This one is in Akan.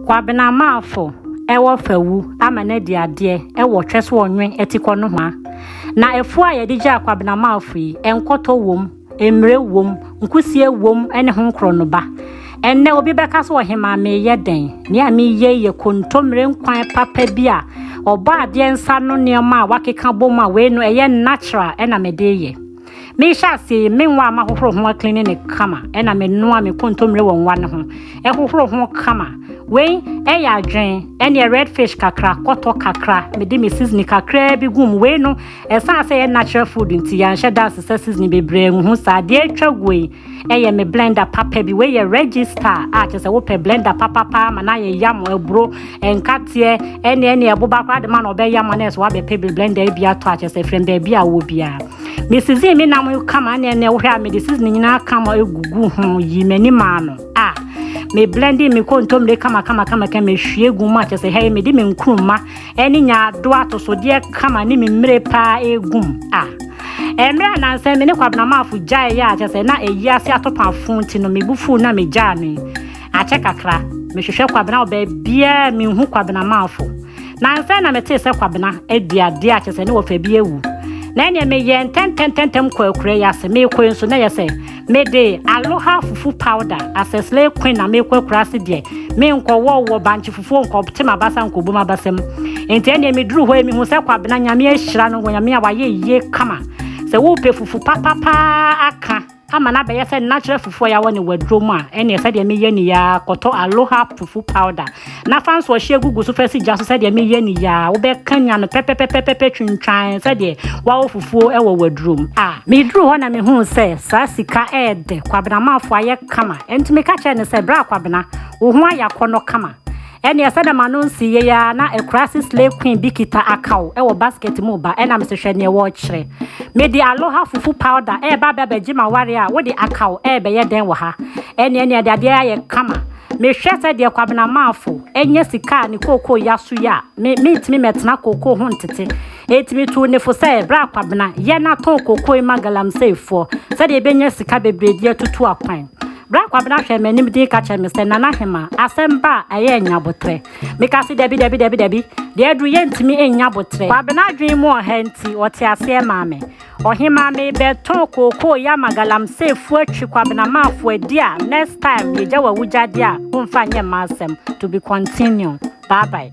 Kwabena Marfo wɔ fawu ama no adi adeɛ wɔ Twɛsoɔnwe atikɔ nohoa. Na afuo a yɛde gyaa Kwabena Marfo yi, nkɔtɔ wom, mmire wom, nkusie wom ne ho nkorɔnoba. Ɛnnɛ obi bɛka sɛ ɔhemaa meyɛ dɛn? Nea meyɛ yi yɛ kontommire nkwan papa bi a ɔbɔadeɛ nsa ano nneɛma a wɔakeka bom a wei no ɛyɛ natural na mede reyɛ. Mehyɛ aseɛ yi, me nwa a mahohoro ho aklini ne kama na menoa me kontommire wɔ nwa no ho hohoro ho kama. Wei yɛ adwen, ɛneɛ red fish kakra, kɔtɔ kakra, mede me seasoning kakraa bi gu mu. Wei no, ɛsan sɛ yɛ natural food nti yɛanhyɛ da asesa seasoning bebree ngu ho saa. Deɛ atwa guo yi, Ɛyɛ me blender papa bi. Wei yɛ register a kyerɛ sɛ wopɛ blender papapa ma no ayɛ yam aburo nkateɛ ɛne ɛne ɛboba koraa de ma na ɔbɛyɛ ma no ɛsɛ wabɛpɛ bi blender bi atɔ a kyerɛ sɛ frɛ baabi a wɔ biara me season me nam kama ɛne ɛne wohwɛ a mede season nyinaa kama egugu ho yi m'ani maa no a me blending me kontomire kama kama kama kama ehwie gu mu a kyerɛ sɛ hɛn mede me nkuruma ne nyaado atosodeɛ kama ne me mmire paa ɛregum a ɛmmerɛ a nansɛ me ne kwabenamafo gyae yɛ akyɛ sɛ na ɛyi ase atopafo nti no mebu fuu na megyaa no yi akyɛ kakra mehwehwɛ kwabena wɔ baabiaa menhu kwabenamafo nansɛ na metee sɛ kwabena aduadeɛ akyɛ sɛ ne wɔfa bi awu na ɛneɛ meyɛ ntɛntɛntɛntɛm kɔ akura yi ase meekɔe nso na yɛ sɛ Me de Aloha fufu powder asɛ slay queen na mekɔ akurase deɛ me nkɔ wɔ wɔ bankye fufuo nkɔ te m'abasa nkɔ bu m'abasa mu nti ɛneɛ me duru hɔ yi me hu sɛ kwabena nyame ahyira no wɔ nyame a wayɛ yie kama sɛ wo pɛ fufu papa paa aka ama na bɛyɛ sɛ natural fufu a yɛawɔ ne waduro mu a ɛneɛ sɛdeɛ meyɛ ni yaa kɔtɔ Aloha fufu powder Na fa nsoɔhyeɛ gugu so fa si gya so sɛdeɛ mereyɛ no yi ara, wobɛkanyan no pɛpɛpɛpɛpɛ twintwan sɛdeɛ woawo fufuo wɔ w'adurom a. Meduruu hɔ na mehuu sɛ saa sika yɛ dɛ, Kwabena Amanfoɔ ayɛ kama, ɛnti meka kyerɛɛ no sɛ, Bra Kwabena, wo ho ayɛ akɔnnɔ kama. Ɛnneɛ sɛdeɛ m'ano nsii yei ara na Akurase Slay Queen bi kita akaw wɔ basket mu reba, ɛnna mese, Hwɛ deɛ wɔrekyerɛ. Mede Aloha Fufu Powder reba abɛbɛgye m'awareɛ a wode akaw rebɛyɛ dɛn wɔ ha? Ɛnneɛ ɛnneɛ ɛde adeɛ ayɛ kama. Mehwɛ sɛ deɛ Kwabena Maafo nya sika a ne kookoo ya so yi a, me, mentumi mmɛtena kookoo ho ntete. Enti metuu ne fo sɛ, Bra Kwabena, yɛ na tɔn kookoo yi ma galamseyfoɔ, sɛdeɛ yɛbɛnya sika bebree de atutu akwan. Bra Kwabena hwɛɛ m'anim dinn ka kyerɛɛ me sɛ, Nana Hemaa, asɛm ba a, ɛyɛ nnya aboterɛ. Mekaa se, Dabi, dabi, dabi, dabi, deɛ aduru yɛntumi nnya aboterɛ. Kwabena adwene mu ɔha nti, ɔtee aseɛ maa me. Ɔhemaa me bɛ tɔn kookoo ya ma galamsey fo atwi kwabena maa fo adi a next time yɛ gya w'awugya deɛ a wo nfa nyɛ mma asɛm to be continue bye bye.